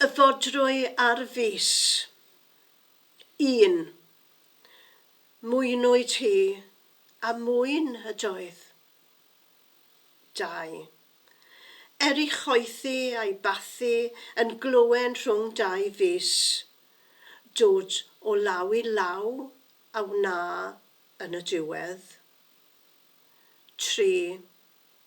Y fodrwy ar fis. Un. Mwynwyd hi, a mwyn ydoedd. Dau. Er i choethi a'i bathu yn glöwen rhwng dau fis, dod o law i law a wna yn y diwedd. Tri.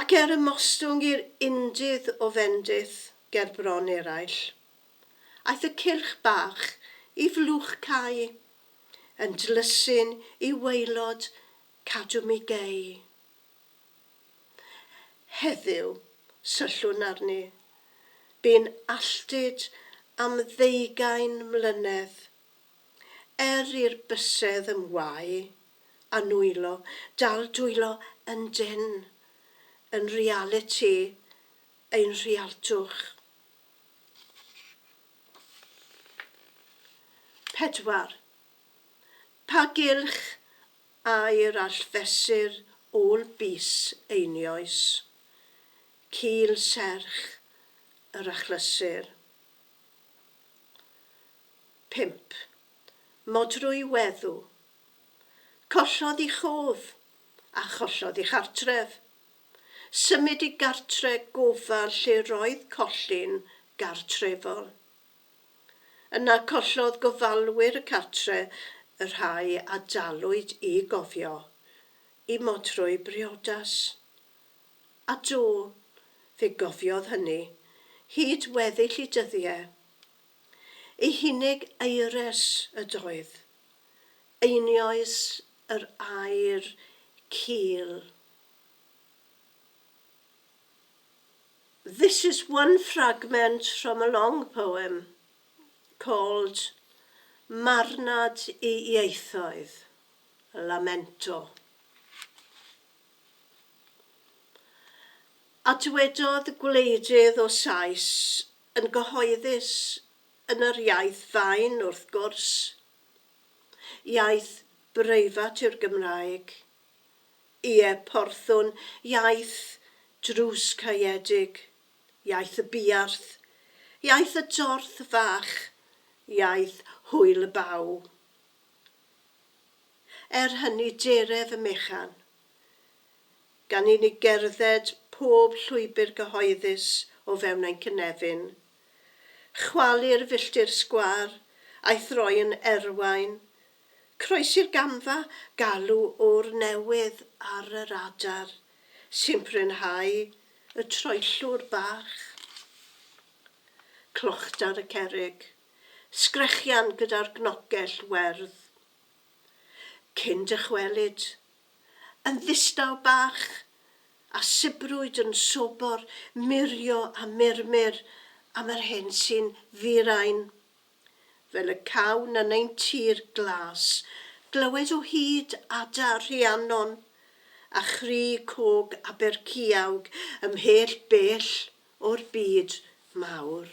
Ac er ymostwng i'r undydd o fendith ger bron eraill, aeth y cylch bach i flwch cau, yn dlysu'n i waelod cadw mi gei. Heddiw, syllwn arni, bu'n alltud am ddeugain mlynedd Er i'r bysedd yn wau a nwylo, dal dwylo yn dân, yn realiti ein rhialtwch. 4. Pa gylch air all fesur ôl bys einioes? Cul serch yr achlysur. Pump. Modrwy weddw. Collodd i chof, a chollodd i chartref. Symud i gartre' gofal lle roedd collin gartrefol. Yna collodd gofalwyr y cartre' y rhai a dalwyd i gofio, i modrwy briodas. A do, fe gofiodd hynny, hyd weddill i dyddie. Ei hunig aeres ydoedd. Einioes yr aer cul. This is one fragment from a long poem called Marnad i Ieithoedd, a lamento. A dywedodd gwleidydd o Sais yn gyhoeddus yn yr iaith fain wrth gwrs. Iaith breifat yw'r Gymraeg. Ie, porthwn, iaith drws caeedig, iaith y buarth, iaith y dorth fach, iaith hwyl y baw. Er hynny, dere fy mechan. gan i ni gerdded pob llwybr gyhoeddus o fewn ein cynefin, chwalu'r filltir sgwâr a'i throi yn erwain, croesi'r gamfa, galw ŵr newydd ar yr adar, simprynhau y troellwr bach, clochdar y cerrig, sgrechian gyda'r gnogell werdd. Cyn dychwelyd, yn ddistaw bach, a sibrwyd yn sobor murio a murmur am yr hyn sy'n ddi-rain. Fel y cawn yn ein tir glas glywed o hyd ada Rhiannon a chri cog Aberciawg ymhell bell o'r byd mawr.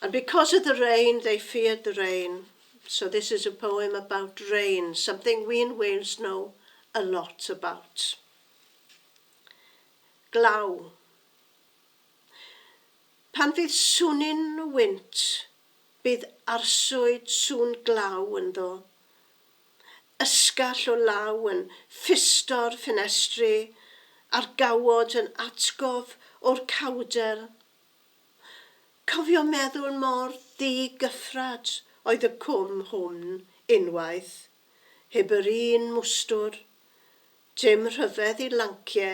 And because of the rain they feared the rain, so this is a poem about rain, something we in Wales know a lot about. Glaw. Pan fydd swnyn wynt, bydd arswyd sŵn glaw ynddo. ysgall o law yn ffisto'r ffenestri a'r gawod yn atgof o'r cawdel. Cofio meddwl mor ddi-gyffrad oedd y cwm hwn unwaith, heb yr un mwstwr, dim rhyfedd i lancie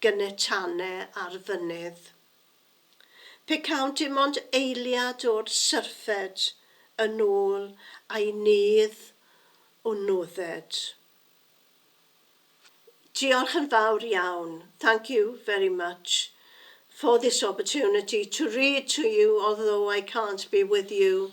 gynetane ar fynydd. Pecaunt dim ond eiliad o'r syrffed yn ôl a'i nydd o nodded. Diolch yn fawr iawn, thank you very much for this opportunity to read to you although I can't be with you